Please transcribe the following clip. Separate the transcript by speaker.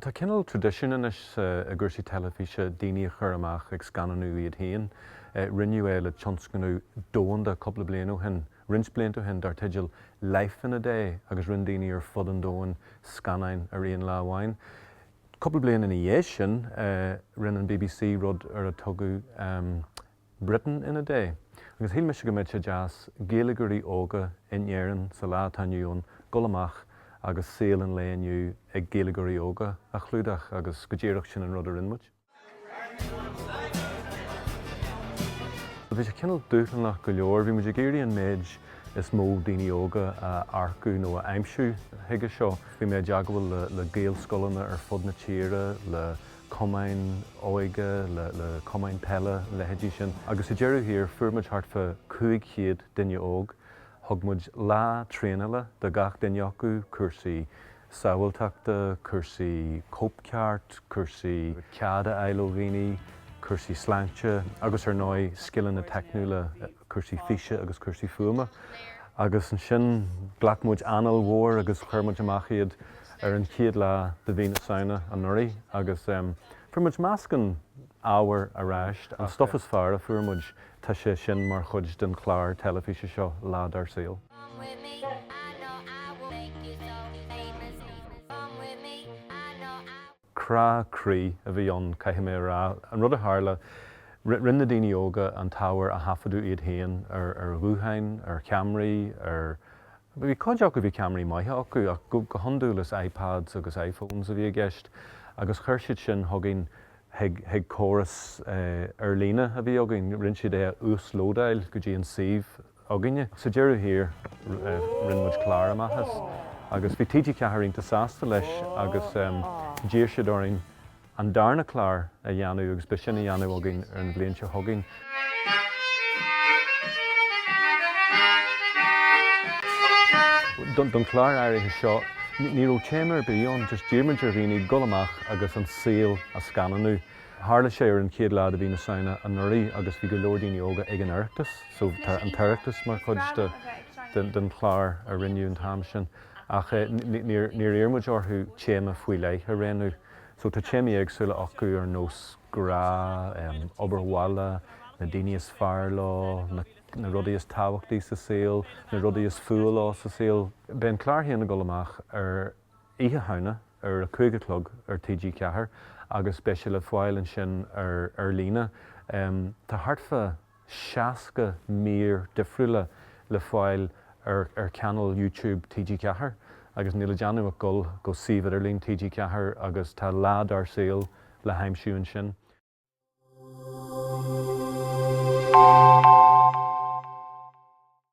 Speaker 1: Tá cineál traidisiúin anois i gcúrsaí teilifíse daoine a chur amach ag scannánú iad féin. Rinneadh é le tionscnamh domhanda cúpla bliain ó shin, roinnt blianta ó shin, dar teideal Life in a Day agus rinne daoine ar fud an domhain scannáin ar aon lá amháin. Cúpla bliain ina dhiaidh sin, rinne an BBC rud ar a tugadh Britain in a Day. Agus shíl mise go mbeadh sé deas Gaeilgeoirí óga in Éirinn sa lá atá inniu ann dul amach agus saol an lae inniu ag Gaeilgeoirí óga a chlúdach agus go díreach sin an rud a rinn muid. Bhí sé cineál dúshlánach go leor, bhí muid ag iarraidh an méid is mó daoine óga a earcú nó a aimsiú chuige seo. Bhí mé i dteagmháil le Gaelscoileanna ar fud na tíre, le. cumainn óige, le cumainn peile, leithéidí sin. Agus i ndeireadh thiar, fuair muid thart fá 500 duine óg. Thug muid lá traenála do gach duine acu, cúrsaí sábháilteachta, cúrsaí cóipcheart, cúrsaí cead a fháil ó dhaoine, cúrsaí sláinte agus ar ndóigh, scileanna teicniúla. cúrsaí físe agus cúrsaí fuaime, agus ansin ghlac muid anáil mhór agus chuir muid amach iad ar an chéad lá de mhí na Samhna anuraidh agus fuair muid meascán ábhair ar ais, an stuif is fearr a fuair muid, tá sé sin mar chuid den chlár teilifíse seo Lá Dár Saol. crá croí a bhí ann, caithfidh mé a rá. An rud a tharla, rinne na daoine óga an t-ábhar a thaifeadadh iad féin ar ghutháin, ar cheamaraí, ar, bhí cuid acu, bhí ceamaraí maithe acu, ach go hiondúil is iPads agus iPhones a bhí i gceist, agus chuir siad sin chugainn chuig córas ar líne a bhí againn, rinne siad é a uaslódáil go dtí an suíomh againne. Sa deireadh thiar, rinne muid clár amach as agus bhí TG4 iontach sásta leis agus d'iarr siad orainn an darna clár a dhéanamh agus beidh sin á dhéanamh againn ar an bhliain seo chugainn. Don chlár áirithe seo, ní raibh téama ar bith ann, just d'iarr muid ar dhaoine dul amach agus an saol a scannánú. Tharla sé ar an chéad lá de mhí na Samhna anuraidh agus bhí go leor daoine óga ag an Oireachtas so tá an tOireachtas mar chuid den chlár a rinneadh an t-am sin ach níor iarr muid orthu téama faoi leith a roghnú so tá téamaí éagsúla acu ar nós grá, obair bhaile, na daoine is fearr leo, na rudaí is tábhachtaí sa saol, na rudaí is fuath leo sa saol. Beidh an clár féin ag dul amach ar. Oíche Shamhna ar a cúig a chlog ar TG4 agus beidh sé le fáil ansin ar ar líne. Tá thart fá 60 mír difriúla le fáil ar ar channel YouTube TG4 agus níl le déanamh ach dul go suíomh idirlín TG4 agus tá lá dár saol le haimsiú ansin.